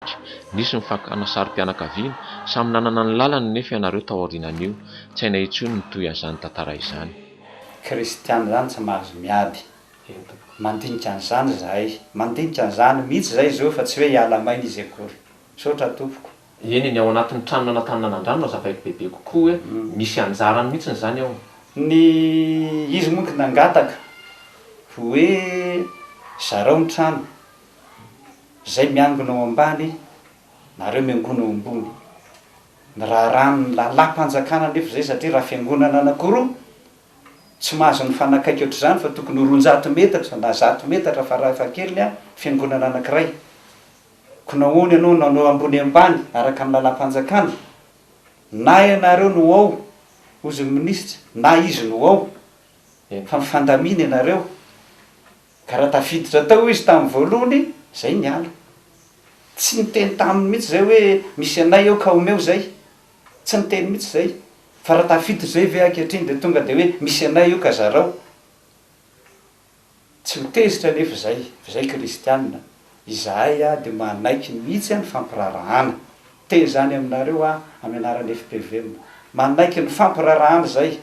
Mpanohitra, Nisy ny fakana sarim-pianakaviana, samy nanana ny lalany nefa ianareo taorianan'io, tsy hainay intsony ny toy azany tantara izany. Kristiana izany tsy mahazo miady. Mandinika an'izany izahay. Mandinika an'izany mihitsy izay izy eo fa tsy hoe hiala maina izy akory. Misaotra tompoko. Eny e, ny ao anatin'ny tranona na tany nanan-drano no azavaiko bebe kokoa hoe misy anjarany mihitsy izany ao. Ny izy moa nangataka hoe zarao ny trano. Izay miangona ao ambany, nareo miangona ao ambony. Ny raharahan'ny lalam-panjakana anefa izay satria raha fiangonana anankiroa, tsy mahazo mifanakaiky ohatr'izany fa tokony ho roanjato metatra na zato metatra farafahakeliny an, fiangonana anankiray. Koa nahoana ianao nanao ambony ambany araka ny lalam-panjakana? Na ianareo no ao, hozy ny minisitra, na izy no ao, fa mifandamina ianareo. Ka raha tafiditra tao izy tamin'ny voalohany, izay niala. Tsy niteny taminy mihitsy izay hoe, misy anay eo ka omeo izay. Tsy niteny mihitsy izay. Fa raha tafiditra izay ve ankehitriny dia tonga dia hoe, misy anay io ka zarao. Tsy ho tezitra anefa izay, fa izay kristiana. Izahay aho dia manaiky mihitsy ny fampiraharahana. Te izany aminareo aho amin'ny anaran'ny FPVM. Manaiky ny fampiraharahana izay.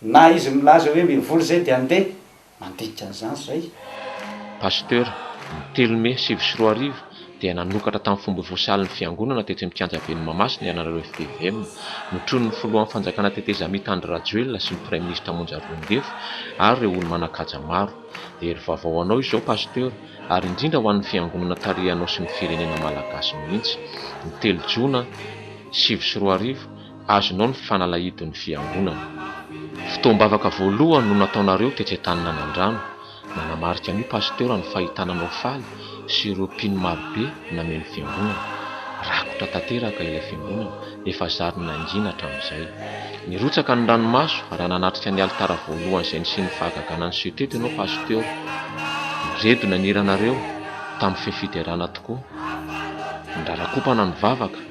Na izy milaza hoe mivoly izay dia andeha. mandika an'izany izay. Pasteur, ny telo mey sivy sy roa arivo dia nanokatra tamin'ny fomba ofisialy ny fiangonana tetsy amin'ny kianja ben'ny Mahamasina ianareo FPVM. Notronin'ny filohan'ny fanjakana tetezamita Andry Rajoelina sy ny praiminisitra Monja Roindefo ary ireo olo-manan-kaja maro. Dia hery vaovao ho anao izao Pasteur ary indrindra ho an'ny fiangonana tarihanao sy ny firenena Malagasy mihitsy. Ny telo jona sivy sy roa arivo azonao ny fanalahidin'ny fiangonana. Fotoam-bavaka voalohany no nataonareo tetsy Antaninanan-drano. Nanamarika an'io Pasteur ny fahitana anao faly sy ireo mpino marobe nameno fiangonana. Rakotra tanteraka ilay fiangonana, efa zary nangina hatramin'izay. Nirotsaka ny ranomaso raha nanatrika ny alitara voalohany izay nisian'ny fahagagana niseho teto ianao Pasteur. Niredona ny hiranareo tamin'ny fehy fiderana tokoa. Nirarakopana ny vavaka.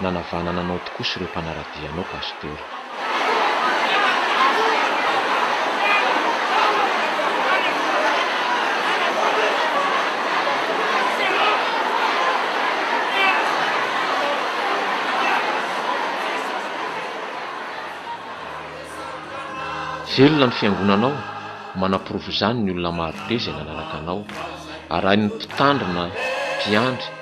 nanavanana anao tokoa sy ireo mpanaradia anao Pasteur. Velona ny fiangonanao, manaporofo izany ny olona marobe izay nanaraka anao. Arahin'ny mpitandrina, mpiandry,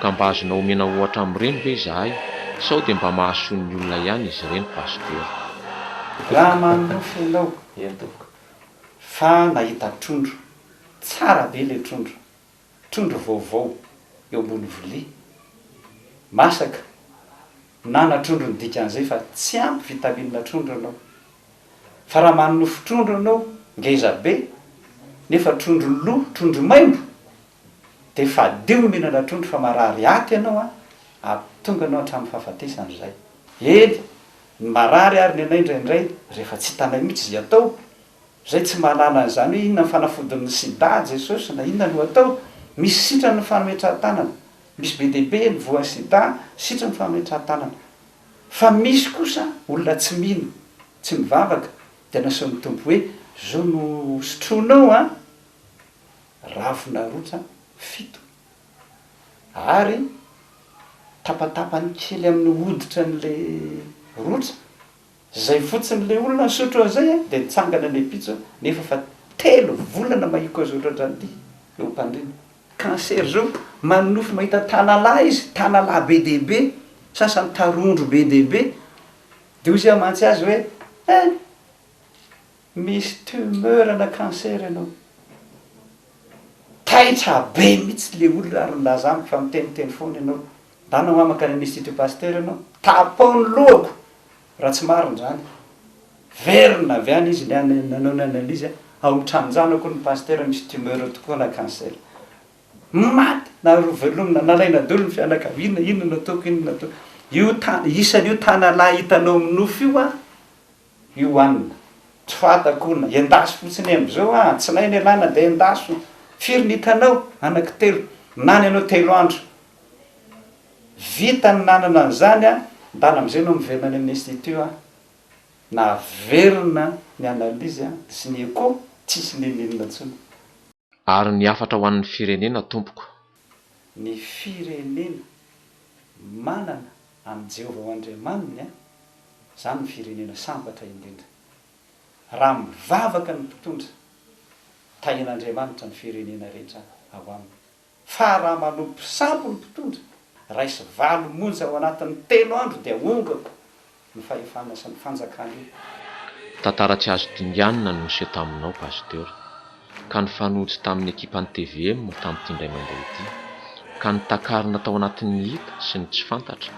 Ka mba azonao omena ohatra amin'ireny ve izahay sao dia mba mahasoa ny olona ihany izy ireny Pasteur. Raha manonofy ianao ry tompoko fa nahita trondro, tsara be ilay trondro, trondro vaovao eo ambony vilia masaka na na trondro ny dikan'izay fa tsy ampy vitamine trondro ianao. Fa raha manonofy trondro ianao ngeza be nefa trondro lo, trondro maimbo, Dia fadio no mihina na trondro fa marary aty ianao an! Ampitonga anao hatramin'ny fahafatesana izay. Eny, ny marary ary ny anay indraindray rehefa tsy hitanay mihitsy izay atao. Izay tsy mahalala an'izany hoe inona ny fanafodin'ny sida Jesosy na inona no atao. Misy sitrany ny fametrahan-tanana. Misy be dia be ny voan'ny sida sitrany ny fametrahan-tanana. Fa misy kosa olona tsy mino, tsy mivavaka, dia nasehon'ny Tompo hoe, izao no hosotroinao an! ravin'arotsa fito ary tapatapany kely amin'ny hoditra an'ilay rotsa, zay fotsiny ilay olona nisotro an'izay dia nitsangana ny ampitso nefa efa telo volana mahiko azo otratra an'ity eo am-pandriana. Cancer zao manonofy mahita tanalahy izy, tanalahy be dia be, sasany tarondro be dia be, dia hoy izy amantsy azy hoe eh! Misy tumeur na cancer ianao. Taitra be mihitsy le olona ary nilaza amiko fa miteniteny foana ianao. Ndana hoa mankany amin'ny institut pasteur ianao. Tapao ny lohako raha tsy marina izany. Verina avy any izy nanao ny analyse ao amin'ny tranon-janako ny pasteur misy tumeur tokoa na cancer. Maty na roa velomina, nalaina daholo ny fianakaviana, inona nataoko, inona nataoko. Io isany io tanalahy hitanao minofy io an. Io an! tsy fantako hono, endaso fotsiny e, amzao an! tsinainy ialana dia endaso, firy ny hitanao? anaky telo, nany ianao telo andro, vita ny nanana an'izany an! ndana amzay ianao miverina any amin'ny institut an! naverina ny analyse an! sy ny echo, tsisy n'inon'inona intsony. Ary ny hafatra ho an'ny firenena tompoko. Ny firenena manana an'i Jehovah ho Andriamaniny, izany no firenena sambatra indrindra. Raha mivavaka ny mpitondra, Tahian'Andriamanitra ny firenena rehetra ao aminy. Fa raha manompo sampy ny mpitondra, raisy valo monja ao anatin'ny telo andro dia ongako ny fahefana sy ny fanjakana io. Tantara tsy azo dinganina no niseho taminao Pasteur, ka nifanojo tamin'ny ekipan'ny tvm tamin'ity indray mandeha ity, ka nitakarina tao anatin'ny hita sy ny tsy fantatra,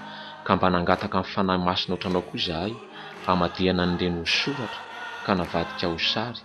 ka mba nangataka ny Fanahy Masina otranao koa izahay hamadihana an'ireny ho soratra ka navadika ho sary,